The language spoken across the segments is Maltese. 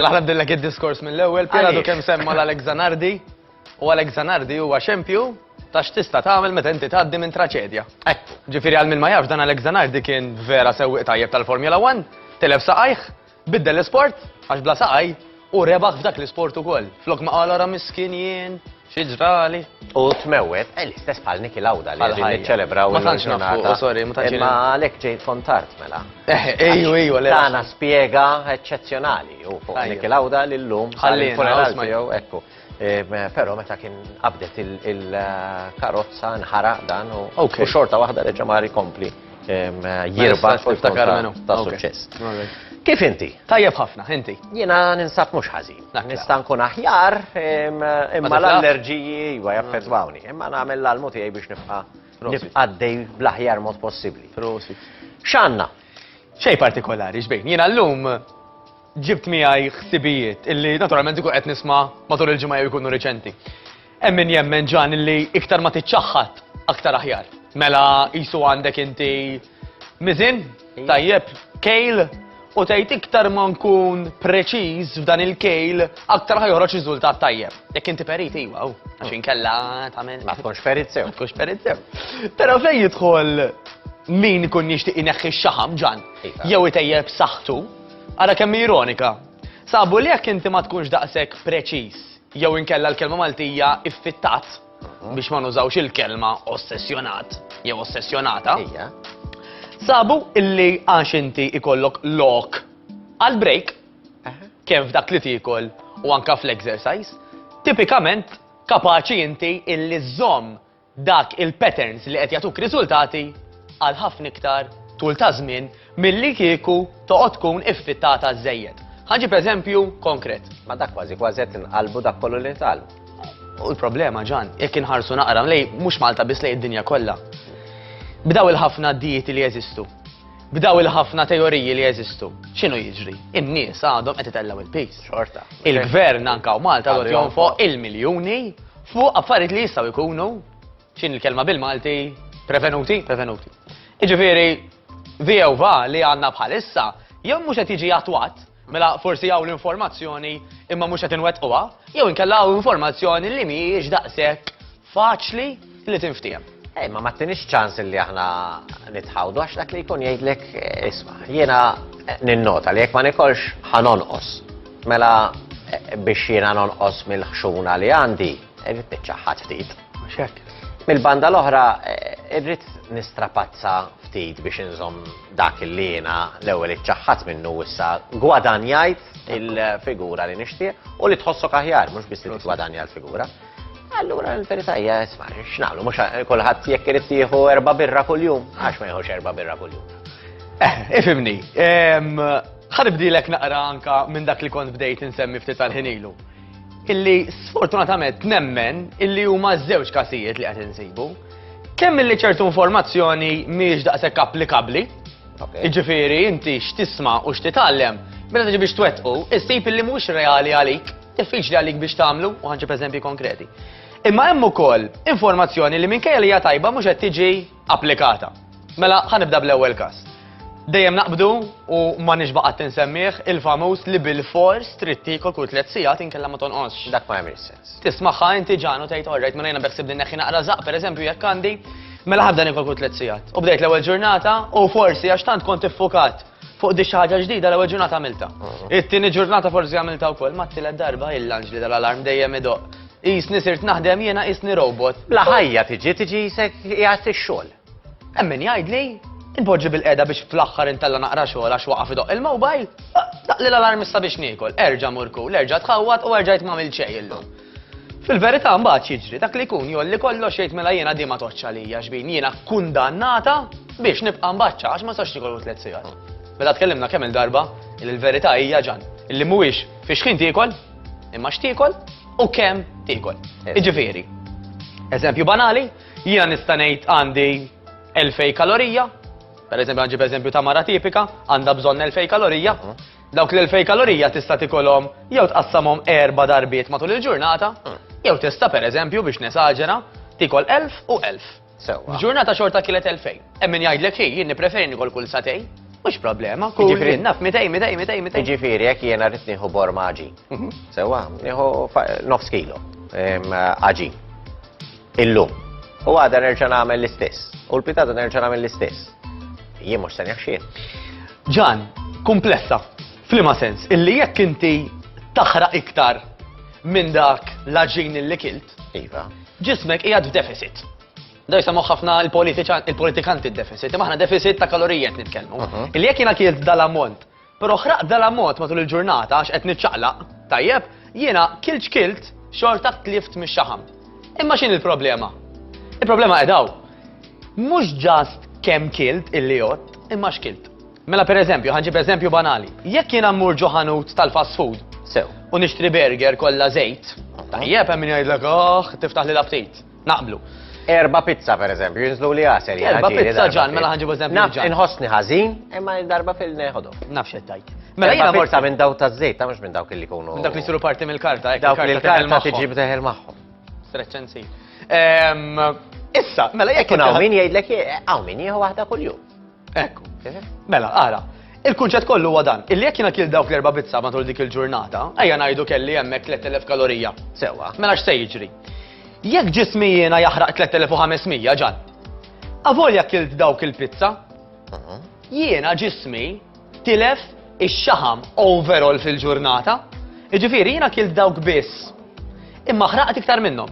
Laħna bdillek id-diskors mill-ewwel, piradu kemm semma l-Alex Zanardi u Alex Zanardi huwa xempju ta' x'tista' tagħmel meta inti tgħaddi minn traċedja. Hekk, ġifieri għal min ma jafx dan Alex Zanardi kien vera sewwieq tajjeb tal-Formula 1, tilef saqajh, Biddel l-isport għax bla saqaj u rebaħ f'dak l-isport ukoll. Flok ma qal ara miskin jien, xi ġrali. U tmewwet, eh, l-istess bħal Niki Lawda li qegħdin niċċelebraw. Ma tantx nafu, oh, sorry, ma tantx. Imma għalhekk ġejt fontart mela. Eh, ejju, ejju, le. Tana spjega eċċezzjonali u fuq Niki Lawda li llum ħalli funeral tiegħu ekku. Però meta kien qabdet il-karozza nħaraq dan u xorta waħda reġa' mar ikompli jirba ta' suċċess. Kif inti? Tajjeb ħafna, inti. Jiena ninsab mhux ħażin. Nista' nkun aħjar imma l-allerġiji iva jaffettwawni. Imma nagħmel l-almu tiegħi biex nibqa' nibqa' dej bl-aħjar mod possibbli. X'għandna? Xejn partikolari, xbejn. Jiena llum Ġibt miegħi ħsibijiet illi naturalment ikun qed nisma' matul il-ġimgħa jew ikunu riċenti. Hemm min jemmen ġan illi iktar ma tiċċaħħad aktar aħjar. Mela qisu għandek inti miżin tajjeb kejl u tgħid iktar ma nkun preċiż f'dan il-kejl aktar ħajħroġ riżultat tajjeb. Jekk inti perit iwa, oh, għax inkella tagħmel. Ma tkunx perit sew. Ma tkunx perit sew. Però fejn jidħol min ikun jixtieq ineħħi x-xaħam ġan, iva. jew itejjeb saħħtu, Ara kemm hi ironika! Sabu li jekk inti ma tkunx daqshekk preċiż jew inkella l-kelma Maltija iffittat, biex ma nużawx il-kelma ossessjonat jew ossessjonata, sabu illi għax inti ikollok lok għal break, kemm f'dak li tiekol u anke fl-exercise, tipikament kapaċi inti illi żżomm dak il-patterns li qed jagħtuk riżultati għal ħafna iktar tul ta' żmien milli kieku toqgħod tkun iffittata żżejjed. Ħa nġib eżempju konkret. Ma dak kważi kważi qed inqalbu dak kollu li ntqal. U l-problema ġan, jekk inħarsu naqra lej mhux Malta biss lej id-dinja kollha. B'daw il-ħafna dijiet li jeżistu, b'daw il-ħafna teoriji li jeżistu. X'inhu jiġri? In-nies għadhom qed itellgħu il-pis. Xorta. Il-gvern anka u Malta għad jonfoq il-miljuni Fuq affarijiet li jistgħu jkunu, x'in il-kelma bil-Malti, prevenuti, prevenuti. Iġifieri, view va li għandna bħalissa, jew mhux qed jiġi attwat, mela forsi hawn l-informazzjoni imma mhux qed inwettquha, jew inkella hawn informazzjoni li mhijiex daqshekk faċli li tinftiehem. Ej, ma mattinix ċans li aħna nitħawdu, għax dak li jkun jgħidlek, isma, jiena ninnota li jekk ma nikolx ħanonqos. Mela biex jiena nonqos mill-ħxuna li għandi, irrid niċċaħħad ftit. Xek. Mill-banda l-oħra, eh, irrid nistrapazza ftit biex inżom dak li jiena l-ewwel iċċaħħad minnu issa gwadanjajt il-figura li nixtieq u li tħossok aħjar, mhux biss li tgwadanja l-figura. Allura l-verità hija isma' x'nagħmlu mhux kulħadd jekk irid jieħu erba' birra kuljum għax ma jieħux erba' birra kuljum. Eh, ifimni, ħanibdilek naqra anka minn dak li kont bdejt insemmi ftit tal-ħinilu. Illi sfortunatament nemmen illi huma żewġ kasijiet li qed insibu. Kemm illi ċertu informazzjoni mhijiex daqshekk applikabbli, jiġifieri inti x'tisma' u x'titgħallem, meta tiġi biex twettqu, issib illi mhux reali għalik. Diffiċli għalik biex tagħmlu u ħanġib eżempji konkreti. Imma hemm ukoll informazzjoni li minkejja li hija tajba mhux qed tiġi applikata. Mela ħanibda bl-ewwel każ. Dejjem naqbdu u ma nixbaqat tinsemmih il-famuż li bil-fors trid tiekol kull tliet sigħat inkella ma tonqosx. Dak ma jagħmel sens. Tismaħħa inti ġanu tgħid orrejt minn jiena beħsib din neħħi naqra żaq pereżempju jekk għandi Mela ħabda nikol kull tliet sigħat. U bdejt l-ewwel ġurnata u forsi għax tant kont iffukat Fuq di ħaġa ġdida l-ewwel ġurnata għamilta. It-tieni ġurnata forsi għamilta wkoll ma t-tielet darba il-lanġli tal-alarm dejjem idoq. Isni sirt naħdem jiena isni robot. Bla ħajja tiġi tiġi jisek jgħat ix-xogħol. Hemm min jgħidli Inpoġġi bil-qeda biex fl-aħħar intella naqra xogħol għax waqaf idoq il-mobile. Daqli l-alarm issa biex niekol. Erġa' murku, l-erġa' tħawwat u erġajt m'għamil xejn illum. Fil-verità mbagħad jiġri dak li jkun jolli kollox jgħid mela jiena din ma toqgħodx għalija xbin, jiena kkundannata biex nibqa' mbaċċa għax ma nistax niekollu tliet sigħat. Mela tkellimna kemm il-darba li l-verità hija ġan, illi mhuwiex fiex ħin tiekol, imma x'tiekol u kemm tiekol. Jiġifieri, eżempju banali, jiena nista' ngħid għandi 2000 kalorija, per eżempju għanġib eżempju ta' mara tipika, għandha bżonn 2000 kalorija, Dawk l-2000 kalorija tista' tikolhom jew tqassamhom erba' darbiet matul il-ġurnata, jew tista' pereżempju biex nesaġera tiekol 1000 u 1000. Sewwa. F'ġurnata xorta kielet 2000. Hemm min jgħidlek hi, jien nippreferi nikol kull sagħtejn. Mhux problema, kull Jiġifieri- jien naf 200, 200, 200, 200. Jiġifieri jekk jiena rrid nieħu borm għaġin. Sewwa, nieħu fa- nofs kilo em, għaġin. Illum. U għada nerġa' nagħmel l-istess. U l-pitata nerġa' nagħmel l-istess. Jien mhux se neħxien. Ġan, kumplessa. Flima sens, illi jekk inti taħraq iktar minn dak l-aġin li kilt. Iva. Ġismek qiegħed f'deficit. Da jisamu ħafna il-politikanti il-deficit, imma ħna deficit ta' kalorijiet nitkellmu. Mhm. Il-jek jina kielt dal-ammont Però ħraqt dal-ammont matul il-ġurnata għax qed niċċaqlaq, tajjeb, jiena kilt x'kilt xorta tlift mix-xaħam. Imma x'inhi l-problema? Il-problema qed hawn. Mhux ġast kemm kilt illi jott, imma x'kilt. Mela per eżempju, ħanġib eżempju banali. Jekk jiena mmur ġo ħanut tal-fast food, Sew. u nixtri burger kollha żejt, tajjeb hemm min jgħidlek, oh, tiftaħ li l-aptit. Naqblu. Erba pizza, per eżempju, jinżlu li għasel. Erba pizza ġan, mela ħanġibu eżempju. Naf, inħosni ħazin, imma darba fil-neħodu. Naf xettajt. Mela jina borsa minn daw ta' zejt, ta' mux minn dawk li kunu. Minn dawk li siru parti mill-karta, ekk. Dawk li l-karta tiġib teħel maħħom. Streċenzi. Ehm, issa, mela jekk. Kun għaw min jgħidlek, għaw min jgħu wahda kull-jum. Ekku. Mela, ara, il-kunċett kollu huwa dan, illi jekk jiena kil dawk l-erba' bizza matul dik il-ġurnata, ejja ngħidu kelli hemmhekk 3000 kalorija. Sewwa. Mela x'se jiġri? Jekk ġismi jiena jaħraq 3500 ġan. Avolja kilt dawk il-pizza, mhm. jiena ġismi tilef ix-xaħam overall fil-ġurnata, jiġifieri jiena kilt dawk biss. Imma ħraqt iktar minnhom.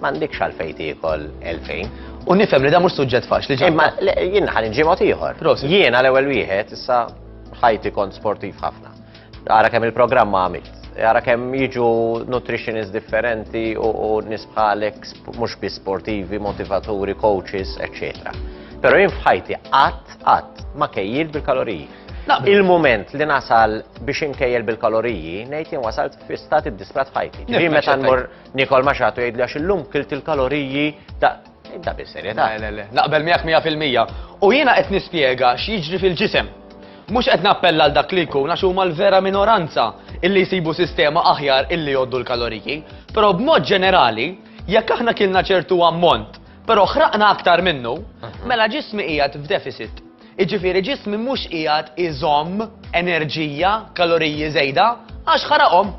M'għandekx għalfejn tiekol 2000. U nifhem li da mhux suġġett faċli ġej. Imma jien ħan inġi mod ieħor. Jien għal ewwel wieħed issa ħajti kont sportiv ħafna. Ara kemm il-programm għamilt. Ara kemm jiġu nutritionist differenti u nisbħalek mhux bi sportivi, motivaturi, coaches, eccetera. Pero jien fħajti qatt qatt ma kejjil bil-kaloriji. Il-moment li nasal biex inkejjel bil-kaloriji, nejt jien wasalt fi stati disprat ħajti. Ġi meta nmur Nikol ma xatu jgħidli għax illum kilt il-kaloriji ta' Inta bis-serjetà. Le, le, le. Naqbel miegħek 100%. U jiena qed nispjega x'jiġri fil-ġisem. Mhux qed nappella għal dak li jkun għax huma l-vera minoranza illi jsibu sistema aħjar illi jgħoddu l-kaloriji. Però b'mod ġenerali, jekk aħna kilna ċertu ammont, però ħraqna aktar minnu, mhm. mela ġismi qiegħed f'deficit. Iġifieri ġismi mhux qiegħed iżomm enerġija, kaloriji żejda, għax ħaraqhom.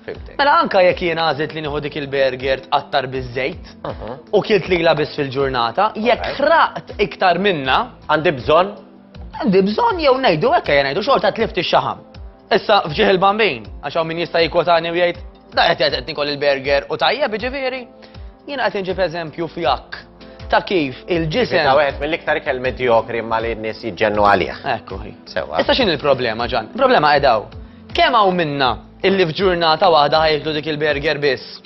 Fimtek. Mela anka jekk jien għażilt li nieħu dik il-burger tqattar biż-żejt Mhm. u kilt li biss fil-ġurnata, jekk Alright. ħraqt iktar minna, Għandi bżonn? għandi bżonn jew ngħidu hekk jien ngħidu xorta tlift ix-xaħam. Issa fġieħ il-bambin, għax hawn min jista' jikwotani u jgħid, da qed qed qed nikol il-burger u tajjeb jiġifieri, jien qed inġib eżempju f'jak ta' kif Bita il-ġisem. wieħed mill-iktar ikel medjokri ma li n-nies jiġġennu għalih. Ekku hi. Sewa. Issa x'in il-problema ġan? Il-problema qedaw. Kemm hawn minna Illi f'ġurnata waħda ħajklu dik il-burger biss.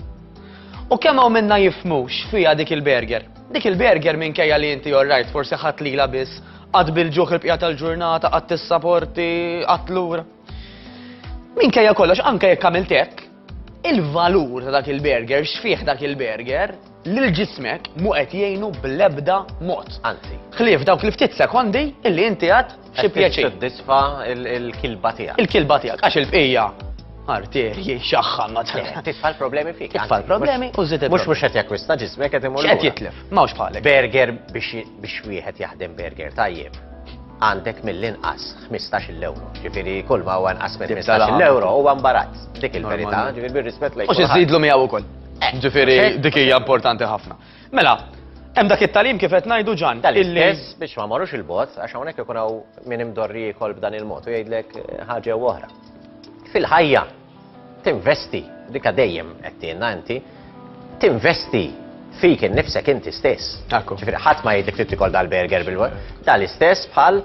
U kemm hawn minna jifhmu x'fiha dik il-burger? Dik il-burger minkejja li inti orrajt forsi ħadt lilha biss, qatt bil-ġuħ il-bqija tal-ġurnata, qatt tissaporti, qatt lura. Minkejja kollox anke jekk għamilt hekk, il-valur ta' dak il-burger, x'fih dak il-burger, lil ġismek mhu qed jgħinu bl-ebda mod. Anzi. Ħlief dawk li ftit sekondi illi inti għad xi pjaċir. Tiddisfa il-kilba tiegħek. Il-kilba tiegħek għax il-bqija arterji xaħħa ma Titfa' l-problemi fik. Titfa' l-problemi u żid Mhux mhux qed jakkwista ġismek qed imur. Qed jitlef, m'hawnx bħalek. Burger biex wieħed jaħdem burger tajjeb għandek mill-inqas 15 euro. Ġifiri, kull ma għan nqas 15 euro u għan barat. Dik il-verità, ġifiri, bil-rispet lejk. U xizidlu miegħu wkoll. Ġifieri dik hija importanti ħafna. Mela, hemm dak it-talim kif qed ngħidu ġan. Tal-istess biex ma marrux il-bot, għax hawnhekk ikun hawn min imdorri jikol b'dan il-mod u jgħidlek eh, ħaġa u oħra. Fil-ħajja tinvesti dik dejjem qed tienna inti, tinvesti fik innifsek inti stess. Akku. Ġifieri ħadd ma jgħidlek trid tikol dal-burger bil-wol. Tal-istess bħal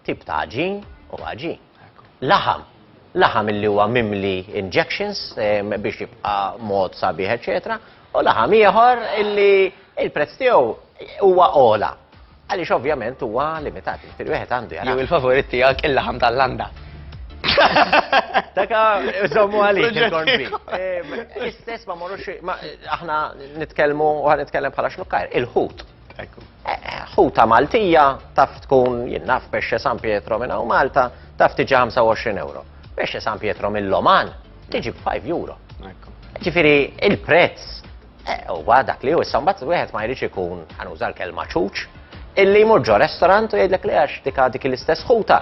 tip ta' ġin u ħaġin. Laħam. laħam illi huwa mimli injections biex jibqa' mod sabiħ eċċetera, u laħam ieħor illi l-prezz tiegħu huwa ogħla. Għaliex ovvjament huwa limitat, jiġifieri wieħed għandu jara. Jew il-favorit tiegħek il-laħam tal-landa. Daka żommu għalik il-korbi. L-istess ma morrux aħna nitkellmu u ħan nitkellem bħala xnukkajr, il-ħut. Ekku. Ħuta Maltija taf tkun jien naf pesce San Pietro minn hawn Malta taf tiġi 25 euro. Pesce San Pietro mill-Loman tiġi b'5 euro. Ġifieri il-prezz eh, huwa dak li hu issa mbagħad wieħed ma jridx ikun ħanuża l-kelma ċuċ illi jmur ġo restaurant u jgħidlek li għax dik dik l-istess ħuta.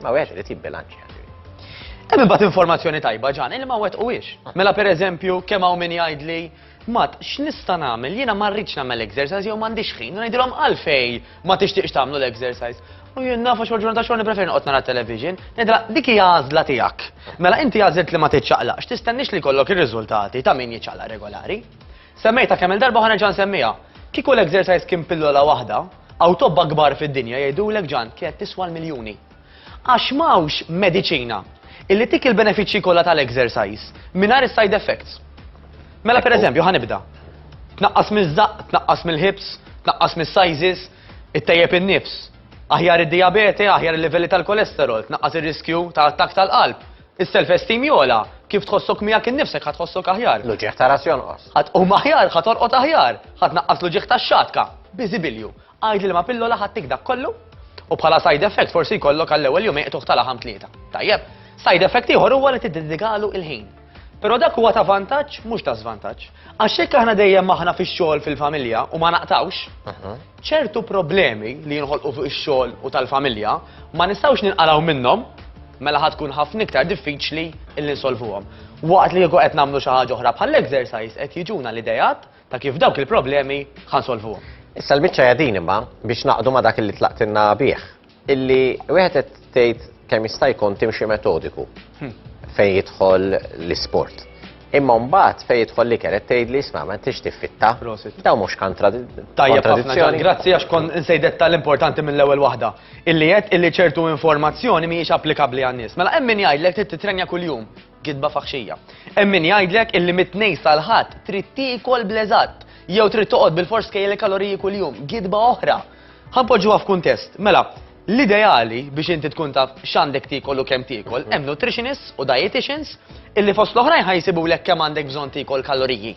Ma wieħed irid jibbilanċja. Hemm imbagħad informazzjoni tajba ġan, il ma wet u wiex. Mela pereżempju kemm hawn min jgħidli Mat, x'nista' nagħmel? Jiena ma rridx nagħmel exercise jew m'għandix ħin, ngħidilhom għalfej ma tixtieqx tagħmlu l-exercise. U jien nafa xogħol ġurnata xogħol nippreferi noqgħod nara television, ngħidilha dik hija għażla tiegħek. Mela inti għażilt li ma tiċċaqlaqx, tistennix li kollok ir-riżultati ta' min jiċċaqlaq regolari. Semmejta kemm il-darba ħa nerġa' nsemmiha. Kieku l-exercise kien pillola waħda, hawn tobba kbar fid-dinja jgħidulek Ġan kienet tiswa l-miljuni. Għax m'hawnx mediċina illi tik il-benefiċċji kollha tal-exercise mingħajr is-side effects. Mela pereżempju ħa nibda. Tnaqqas miż-żaqq, tnaqqas mill-ħibs, tnaqqas mis-sizes, ittejjeb in-nifs. Aħjar id-dijabete, aħjar il-livelli tal-kolesterol, tnaqqas ir-riskju ta' attakk tal-qalb. Is-self-esteem jogħla, kif tħossok miegħek innifsek ħa tħossok aħjar. L-uġigħ ta' ras jonqos. Ħa tqum aħjar, ħa torqod aħjar, ħa tnaqqas l-uġigħ tax-xatka. Biżibilju, għid li liema pillola ħa ttik dak kollu u bħala side effect forsi jkollok għall-ewwel jum iqtuħ tal-aħam tlieta. Tajjeb, side effect ieħor huwa li tiddedikalu il-ħin. Però dak huwa ta' vantaġġ mhux ta' żvantaġġ. Għax jekk aħna dejjem aħna fix-xogħol fil-familja u ma naqtawx, Ċertu problemi li jinħolqu fuq ix-xogħol u tal-familja ma nistgħux ninqalgħu minnhom mela ħa tkun ħafna iktar diffiċli illi nsolvuhom. Waqt li kieku qed nagħmlu xi ħaġa oħra bħall-exercise qed jiġuna l-ideat ta' kif dawk il-problemi ħa nsolvuhom. Issa l-biċċa hija din imma biex naqdu ma' dak li tlaqtilna bih. Illi wieħed qed tgħid kemm jista' jkun timxi metodiku hmm. fejn jidħol l-isport. Imma mbagħad fejn jidħol li kienet tgħid li isma' ma tix tiffitta. Daw mhux kontradizzjoni. Grazzi għax kon insejdet tal-importanti mill-ewwel waħda. Illi qed illi ċertu informazzjoni mhijiex applikabbli għan-nies. Mela hemm min jgħidlek trid titrenja kuljum gidba faħxija. Hemm min jgħidlek illi mit-tnejn sal-ħadd trid tiekol bleżat jew trid toqgħod bil-fors kejjel kaloriji kuljum, gidba oħra. Ħa npoġġuha f'kuntest, mela, l-ideali biex inti tkun taf x'għandek tiekol u kemm tiekol, hemm nutritionists u dietitians illi fost l-oħrajn ħa jsibulek kemm għandek bżonn tiekol kaloriji.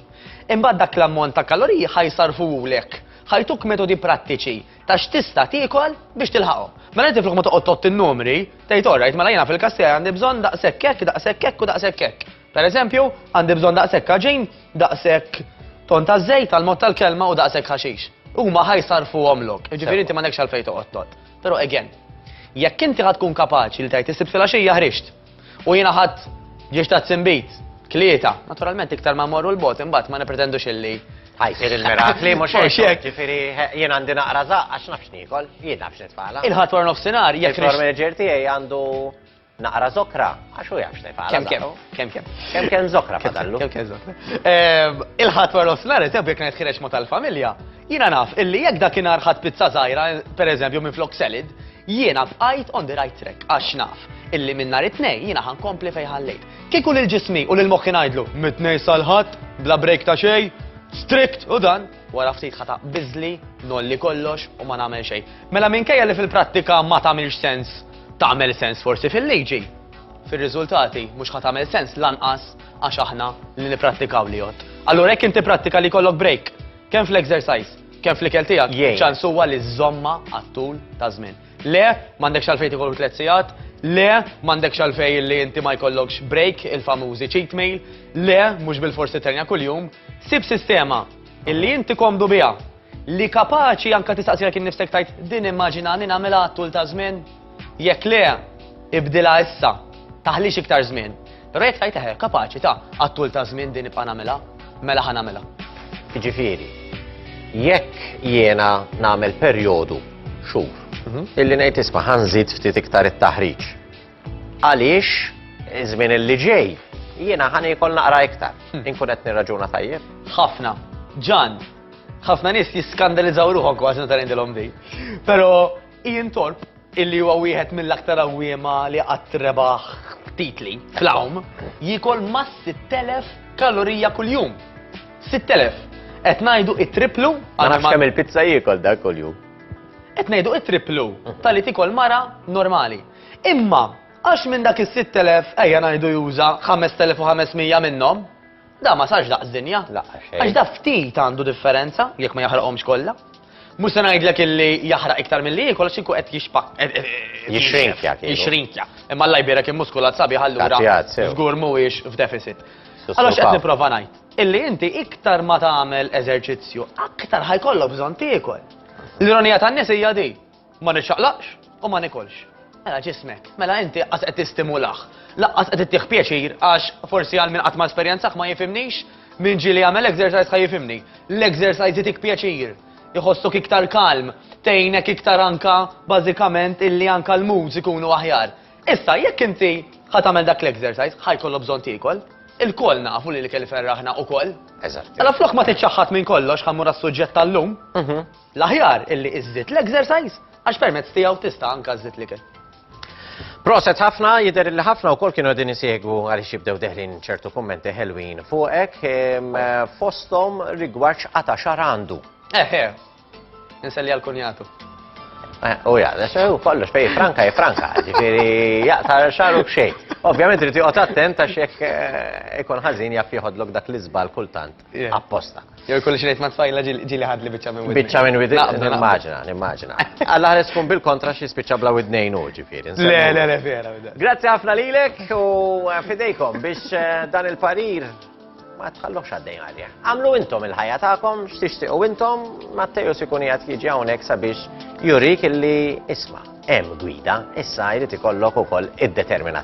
Imbagħad dak l-ammont ta' kaloriji ħa jsarrfulek, ħa jtuk metodi prattiċi ta' x'tista' tiekol biex tilħaqhom. Mela inti flok ma toqgħod tgħodd in-numri, tgħid orrajt, mela jiena fil-każ tiegħi għandi bżonn daqshekk hekk, daqshekk hekk u daqshekk hekk. Per eżempju, għandi bżonn daqshekk kaġin, daqshekk ton ta' żejt għal mod tal-kelma u daqshekk ħaxix. Huma ħajsarfuhom lok, jiġifieri inti m'għandekx għalfejn toqgħod tot. Però again, jekk inti ħad tkun kapaċi li tgħid isib filgħaxija ħrixt u jiena ħadd ġiex ta' tsimbit, tlieta, naturalment iktar ma morru l-bot imbagħad ma nipretendux illi Għajsir il-mirakli, mux xek. Ġifiri, jien għandi naqra zaqqa, xnafx nikol, jien nafx nitfala. Il-ħat war nofsinar, jek. Il-formager tijaj għandu Naqra zokra, għax u jaf x'se jfaqla. Kem kem, kem kem. Kem kem zokra fadallu. Kem kem zokra. Ehm, il-ħat war l-osnar, eżem bjek netħireċ ma tal-familja, jina naf illi jek dak inar ħat pizza zaħira, per eżempju minn flok selid, jiena bqajt on the right track, għax naf illi minn nar it-tnej jiena ħankompli fej ħallejt. Kieku lil ġismi u lil moħħi ngħidlu mit-tnej sal-ħadd, bla break ta' xej, strict u dan, wara ftit ħata bizli, nolli kollox u ma nagħmel xejn. Mela minkejja li fil-prattika ma tagħmilx sens tagħmel sens forsi fil-liġi, fir-riżultati mhux ħa tagħmel sens lanqas għax aħna li nipprattikaw li jgħodd. Allura jekk inti prattika li jkollok break, kemm fl-exercise, kemm fl-ikel tiegħek, Jgħin. ċans huwa li żomma għat-tul ta' żmien. Le, m'għandekx għalfejn tieħu tliet sigħat, le, m'għandekx għalfejn li inti ma jkollokx break, il-famużi cheat meal, le, mhux bil-forsi terja kuljum, sib sistema illi inti komdu biha Li kapaċi anke tistaqsilek innifsek tgħid din immaġinani nagħmilha għat-tul ta' żmien? Jekk le, ibdilha issa, taħlix iktar żmien. Però jekk tgħid eħe, kapaċi ta' għat-tul ta' żmien din nibqa' nagħmilha, mela ħa nagħmilha. Jiġifieri, jekk jiena nagħmel perjodu xhur mhm. illi ngħid isma' ħanżid ftit iktar it-taħriġ. Għaliex iż-żmien illi ġej jiena ħani jkoll naqra iktar. Hmm. Inkun qed nirraġuna tajjeb. Ħafna. Ġan, Ħafna nies jiskandalizzaw ruħhom kważi meta ngħidilhom din. Però Ian Torp illi huwa wieħed mill-aktar awwiema li qatt rebaħ titli fl-awm, jikol ma' 6000 kalorija kuljum. 6000. Qed ngħidu it-triplu. Ma nafx kemm il-pizza jiekol dak kuljum. Qed ngħidu it-triplu tal-li tikol mara normali. Imma għax minn dak is-6000 ejja ngħidu juża 5500 minnhom, Da ma sarx daqs dinja. Laqqa xejn. Għax da ftit għandu differenza jekk ma jaħraqhomx kollha. Mhux se ngħidlek illi jaħraq iktar milli jiekol għax inkun qed jixpa. Jixrinkja kieku. Jixrinkja. Imma Alla jbierek il-muskulat sabiħ allura. Tattijat, sew. Żgur mhuwiex f'deficit. Allora x'qed nipprova ngħid? Illi inti iktar ma tagħmel eżerċizzju, aktar ħajkollok bżonn tiekol. L-ironija tan-nies hija di. Ma niċċaqlaqx u ma nikolx. Mela ġismek, mela inti qas qed tistimulah. Laqqas qed ittih pjaċir għax forsi għal min qatt ma esperjenzah ma jifimnix, min ġieli jagħmel exercise ħa jifimni. L-exercise jitik pjaċir, iħossok iktar kalm, tgħinek iktar anka bażikament illi anka l-moods ikunu aħjar. Issa jekk inti ħa tagħmel dak l-exercise ħa jkollok bżonn tiekol. Il-koll nafu li l-ikel iferraħna ukoll. Eżatt. Mela flok ma tiċċaħħad minn kollox ħa mmur għas-suġġett tal-lum. Mhm. L-aħjar illi iżżid l-exercise għax permezz tiegħu tista' anka żżid l-ikel. Proset ħafna, jidher li ħafna wkoll kienu qegħdin isegwu għaliex jibdew deħlin ċertu kummenti ħelwin fuqek ehm, fosthom rigward x'qata xar għandu. Eh, eh. Inselli għal kunjatu. Eh, u ja, u kollox fej franka e franka, ġifieri jaqta xaru b'xejn. Ovvjament rriti joqgħod attent għax jekk eh, ikun ħażin jaf jieħodlok dak l-iżbal kultant. apposta. Jew jkolli xi ngħid ma' tfajla ġieli ħadli biċċa minn widni. Biċċa minn widni, nimmaġina, nimmaġina. Alla ħares tkun bil-kontra xi spiċċa bla widnejn u ġifieri. Le, le, le, vera. Grazzi ħafna lilek u eh, fidejkom biex eh, dan il-parir ma tħallux għaddej għalja. Għamlu intom il-ħajja tagħkom, x'tixtiequ intom, Matteo sikun jgħat jiġi hawnhekk sabiex jurik illi isma' hemm gwida, issa jrid ikollok ukoll id-determinazzjoni.